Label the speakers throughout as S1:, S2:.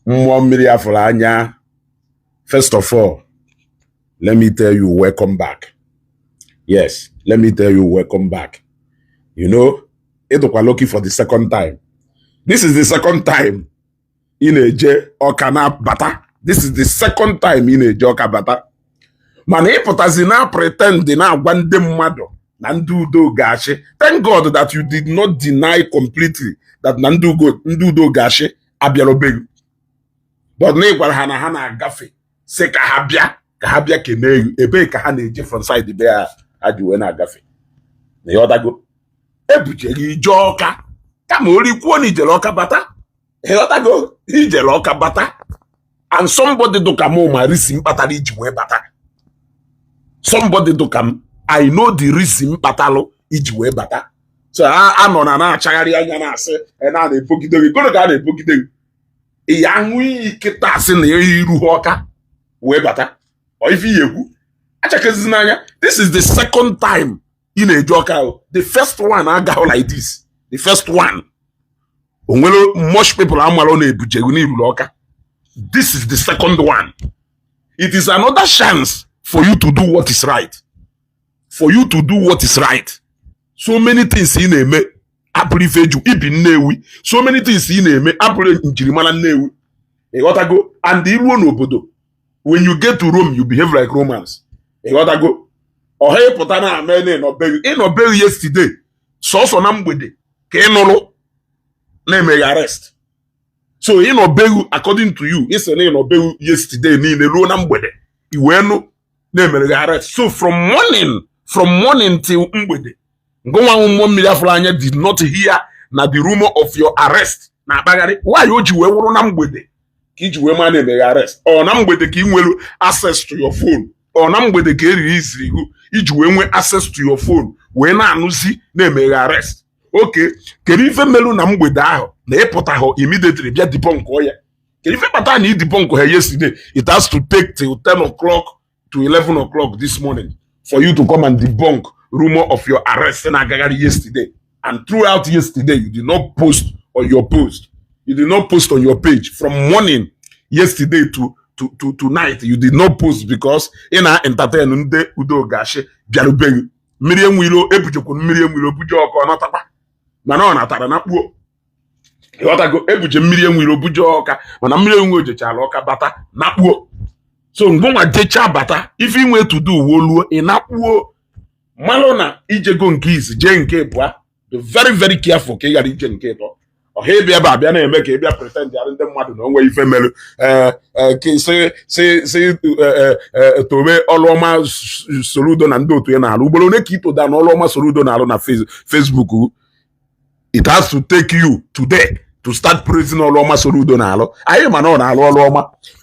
S1: mmụọ mmiri afụrụ anya first of all let me tell you welcome back yes let me tell you welcome back you know ị dụkwa lucky for the second time this is the second time ị na-eje ọka na-abata this is the second time ị na-eje ọka bata mana ị pụtazi na-pretend na-agwa ndị mmadụ na ndị udo ga-achị thank God that you did not deny completely that na ndị udo ga-achị abịarọ be gị but na ị gwara ha na ha na-agafe si ka ha bịa ka ha bịa kenee gị ebee ka ha na-eje from side be ha ha ji wee na-agafe na ịghọtago ebujere ije ọka kama o ruo i kwuo na ijere ọka bata ịghọtago ijere ọka bata and somebody dụka m ma reason kpatara iji wee bata somebody dụka m i know the reason kpatalụ iji wee bata so a nọ na na-achagharị anya na-asị e na na-ebogide gị goro ka a na-ebogide gị ị ya-aṅụ iyi kịta asị na iruha ọka wee bata ife ị na-ekwu achakezizi n'anya this is the second time ị na-eje ọka ahụ the first one agahụ like this the first one o nwere much people amarọ na ebuje gị na iruru ọka this is the second one it is another chance for you to do what is right for you to do what is right so many things ị na-eme abụrọ ife eji ebi nnewi so many things ị na-eme abụrọ njirimara nnewi ịghọtago and iruo n'obodo when you get to Rome you behave like Romans ịghọtago ọha ịpụta na-eme na ịnọ be gị ịnọ be gị yesterday sọsọ na mgbede ka ị nụrụ na emere gị arrest so ịnọ be gị according to you ịsị na ịnọ be gị yesterday niile ruo na mgbede iwee nụ na emere gị arrest so from morning till mgbede ngịnwa wụ mmụọ mmiri afụrụ anya did not hear na the rumor of your arrest na-akpagharị why o ji wee wụrụ na mgbede ka iji wee ma na emere gị arrest ọ na mgbede ka ị nwere access to your phone ọ na mgbede ka e releasiri gị iji wee nwee access to your phone wee na-anụzi na emere gị arrest okay kedu ife melu na mgbede ahụ na ịpụtahụ immediately bịa debunk ya kedu ife kpata na ị debunkha yesterday it has to take till 10 o'clock to 11 o'clock this morning for you to come and debunk rumor of your arrest in Agagari yesterday. And throughout yesterday, you did not post on your post. You did not post on your page from morning yesterday to to, to tonight. You did not post because in our entertainment ndị udo gashi bịarubeghị mmiri enwilo ebujekwu mmiri enwilo buje ọkụ ọ natakwa mana ọ natara na kpuo ịghọtago ebuje mmiri enwe iro buje ọka mana mmiri enwe iro jechala ọka bata nakpuo so ngịnwa jecha bata if you want to do well o ị nakpuo malụ na ijego nke izi jee nke ịbụa be very very careful ka ị ghara ije nke ịtọ ọha ịbịa ebe abịa na-eme ka ịbịa pretend arụ ndị mmadụ na onwe ife mere eh, eh, si eh, tobe ọlụ ọma soludo na ndị otu ya na-alụ ugboro one ka itoda na ọlụ ọma soludo na-alụ na Facebook it has to take you today to start praising ọrụ ọma Soludo na-alụ anyị ma na ọ na-alụ ọrụ ọma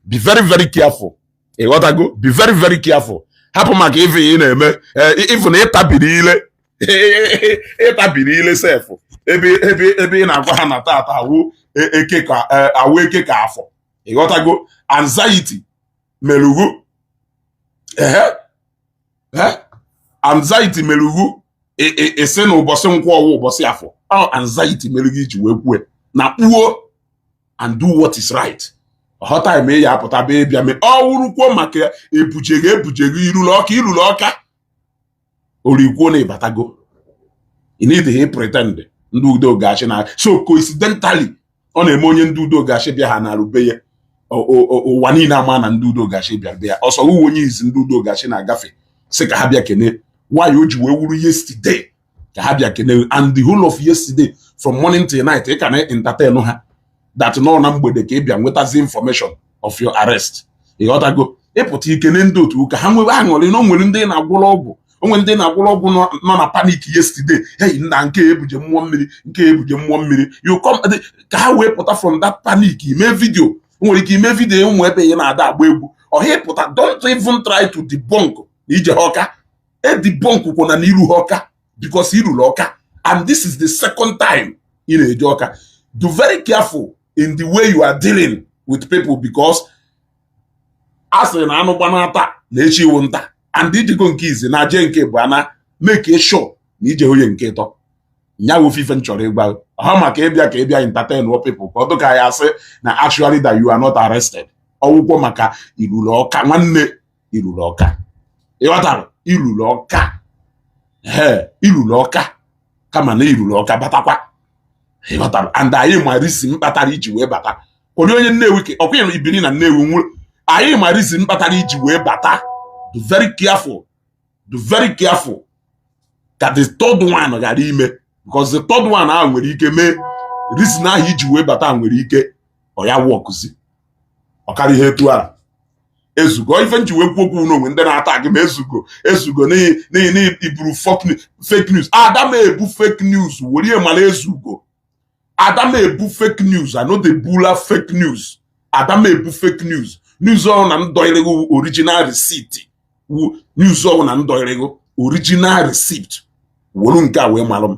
S1: be very very careful ịghọtago be very very careful hapụ maka ife ị na-eme even eh, na ịtabiri ile ịtabiri ile sef ebe ebe ebe ị na-agwa ha na tata awụ e, eke ka e, awụ eke ka afọ ịghọtago anxiety meru gụ ehe anxiety meru gụ ị sị na ụbọchị nkwọ ọ wụ ụbọchị afọ ọ anxiety mere gị iji wee kwue na kpuo and do what is right ọghọta eme ya apụta be bịa mee ọ wụrọkwọ maka e buje ghị e buje ghị i ruru Ọka i ruru Ọka orikwuo na ịbatago ị needị pretend ndị udo ga-achị na so coincidentally ọ na-eme onye ndị udo ga-achị bịa ha na-aru be ya ụwa niile ama na ndị udo ga-achị bịa be ya ọsọ uwe onye izi ndị udo ga-achị na-agafe sị ka ha bịa kene why o ji wee wuru yesterday ka ha bịa kene and the whole of yesterday from morning till night ị ka na entertain ha that nọ na mgbede ka ị bịa nwetazi information of your arrest ịghọtago ị pụta i kene ndị otu ka ha nwebe aṅụrị na o nwere ndị na-agwọrọ ọgwụ o nwe ndị na-agwọrọ ọgwụ nọ na panic yesterday hey nna nke ebuje mmụọ mmiri nke ebuje mmụọ mmiri you come ka ha wee pụta from that panic ime vidio nwere ike ime vidio ụmụ ebe ị na-ada agba egwu ọhịa pụta don't even try to debunk na i jehọ Ọka edebunkkwana na i ruhọ Ọka because i ruru Ọka and this is the second time ị na-eje Ọka dụ very careful in the way you are dealing with people because a sịrị na anụ gbanaa taa na echi wụ nta and i jego nke izi na-eje nke ịbụa na make sure na ije onye nke ịtọ nya wụ ife m chọrọ ịgwa ha maka ịbịa ka ịbịa entertain wọ people ka ọ dịka a sị na actually that you are not arrested ọ wụkwọ maka i ruru Ọka nwanne i ruru Ọka ịghọtara i ruru Ọka ee i ruru Ọka kama na i ruru Ọka batakwa ịghọtara and anyị ma reason kpatara iji wee bata onye onye nnewi ka ọkwa ịrụ ibiri na nnewi nwụrụ anyị ma reason kpatara iji wee bata dụ very careful dụ very careful ka the third one ghara ime because the third one ahụ nwere ike mee reason ahụ iji wee bata nwere ike ọ ya wọkụzi ọ karịa ihe etu ahụ ezugo ife m ji wee kwuo okwu na o nwe ndị na-ata gị ma ezugo ezugo n'ihi iburu fake news ada m ebu fake news were ya mara ezugo ada m ebu fake news i no dey bula fake news ada m ebu fake news news ọ wụna m dọịrị ghị original receipt wu news ọ wụna m dọịrị ghị original receipt wolu nke a wee malụ m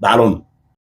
S1: daalụnụ